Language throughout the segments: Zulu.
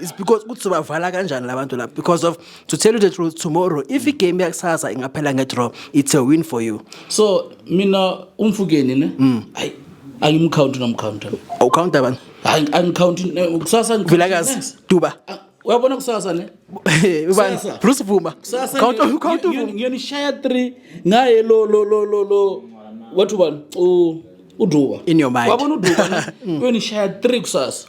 is because ukuthi sobavala kanjani labantu lapho because of to tell you the truth tomorrow if igame yakusasa ingaphela ngedraw it's a win for you so mina umfukeni ne mm. hayi angimkhawunti nomkhawunta awukhawunta abantu hayi angikhawunti kusasa vilakazi duba ah, uyabona kusasa ne ubani bruce vuma khawunta khawunta ngiyonishaya 3 ngaye lo lo lo lo lo wathi ubani uduba wabona uduba uyonishaya 3 kusasa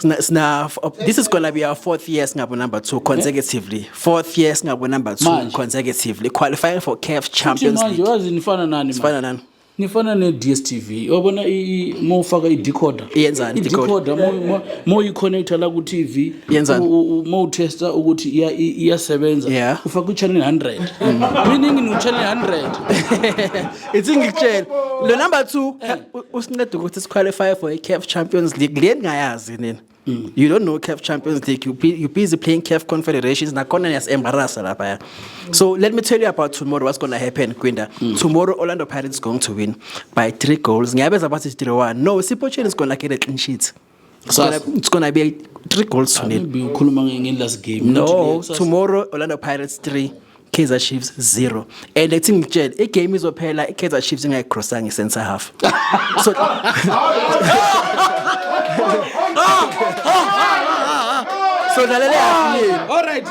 Sna, sna, f- this is gonna be our fourth year singabo number two consecutively. Fourth year singabo number two Manje. consecutively. Qualifying for CAF Futhi Champions manje League. wazi nifana nani manje? Fana nani? nifana ne-dstv wabona mowufaka i-decoder Iyenzani i-decoder mowuyi-connecta la ku-tv Yenzani? mowutesta ukuthi iya- i- iyasebenza Yeah. Mm. ufaka i-channel 100 meaning ngu-channel 100 ithi ngikutshela lo number 2 eh. usinceda ukuthi siqualify for iCAF Champions League le ningayazi nina mm. you don't know CAF Champions League you, you busy playing CAF Confederations nakhona niyasembarasa lapha ya so let me tell you about tomorrow what's going to happen Kwinda mm. tomorrow Orlando Pirates going to win by 3 goals ngiyabeza bathi 3-1 no Sipho Chen is going to get a clean sheet It's gonna, it's gonna be three goals to nil. Maybe ukhuluma nge- nge last game. No, Not today. tomorrow Orlando Pirates 3, Kaizer Chiefs 0. And I think ngitshele igame izophela iKaizer Chiefs ingayicrossanga i-center half. So So dlalela half nil. All right.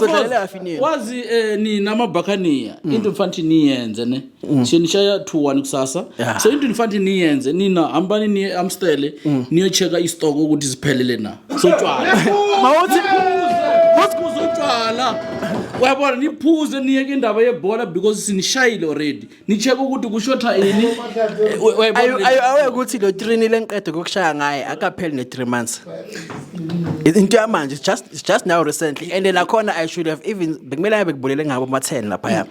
So dlalela half nil. Wazi eh nina amaBhakaniya into mfanthi niyenze ne. mm. so nishaya two one kusasa yeah. so into nifanele niyenze nina hambani niye amstele mm. niyocheka istoko ukuthi ziphelele na sotshwala mawuthi kusikhuza utshwala uyabona niphuze niyeke indaba yebhola because sinishayile already nicheke ukuthi kushotha ini awe ukuthi lo trini lenqede kokushaya ngaye akapheli ne-three months into yamanje just, just now recently and nakhona i should have even bekumele abe kubulele ngabo ama-ten laphaya mm.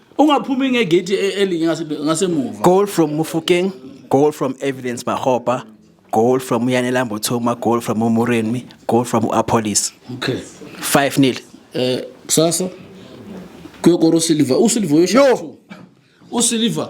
ungaphumi ngegate e- elinye ngase- ngasemuva Goal from Mufukeng, goal from Evidence Mahopa, goal from Yanela Mbotoma, goal from Umurenmi, goal from Apolis. okay 5 nil. eh kusasa kuyokora usilver usilver uyosho Yo! two. usilver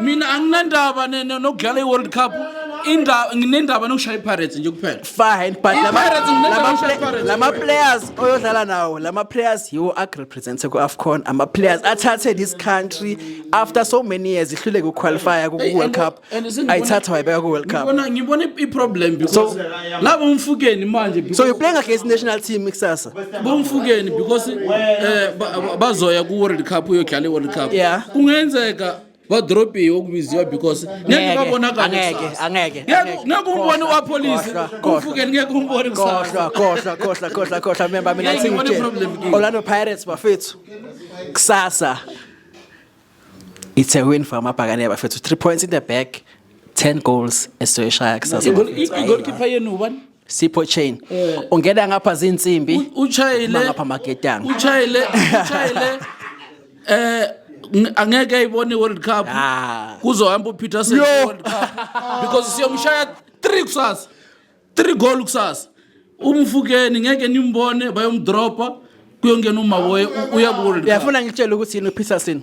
mina anginandaba ne- ne- nokudlala i-world cup Inda- nginendaba nokushaya ipirates nje kuphela fine but lama- I-Pirates ngilethwa lama ngisho play- i-Pirates. lama players oyodlala nawo lama players yiwo akurepresente ku-afcon ama-players athathe this country after so many years ihluleke ukuqualifya ku-world cup ayithatha wayibeka ku-world cup ngibona ngibona i- i-problem because So- laba umfukeni manje so you playing against national team kusasa bomfukeni because eh, bazoya ku-world cup uyodlala i-world cup kungenzeka badorobheni okubiziwa because ngeke babonakaleangeke umbone wapolisi kumfukeni ngeke umbone kusasakhohlakhohlakhohlakhohlakhohla memba mina ngithingiorlando pirates bafethu kusasa it's a win for amabhakane bafethu three points in the back 10 goals esoyishaya kusasa igolkipa yenu ubani Sipho chain eh. ungena ngapha zinsimbi uchayile ngapha maketanga uchayile uchayile eh angeke ayibone iWorld Cup ah. kuzohamba uPeter Senge World Cup because siyomshaya 3 kusasa 3 goal kusasa umfukeni ngeke nimbone bayomdropa kuyongena umaboye uya ku World Cup uyafuna ngitshele ukuthi yini uPeterson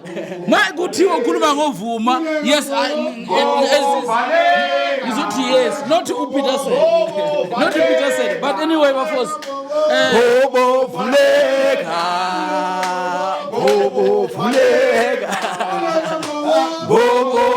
Manje kuthiwa ukhuluma ngovuma. Yes, I ngizothi yes, not uPeterson. Not uPeterson, but anyway bafos. Eh, Bobo vuleka. Bobo vuleka.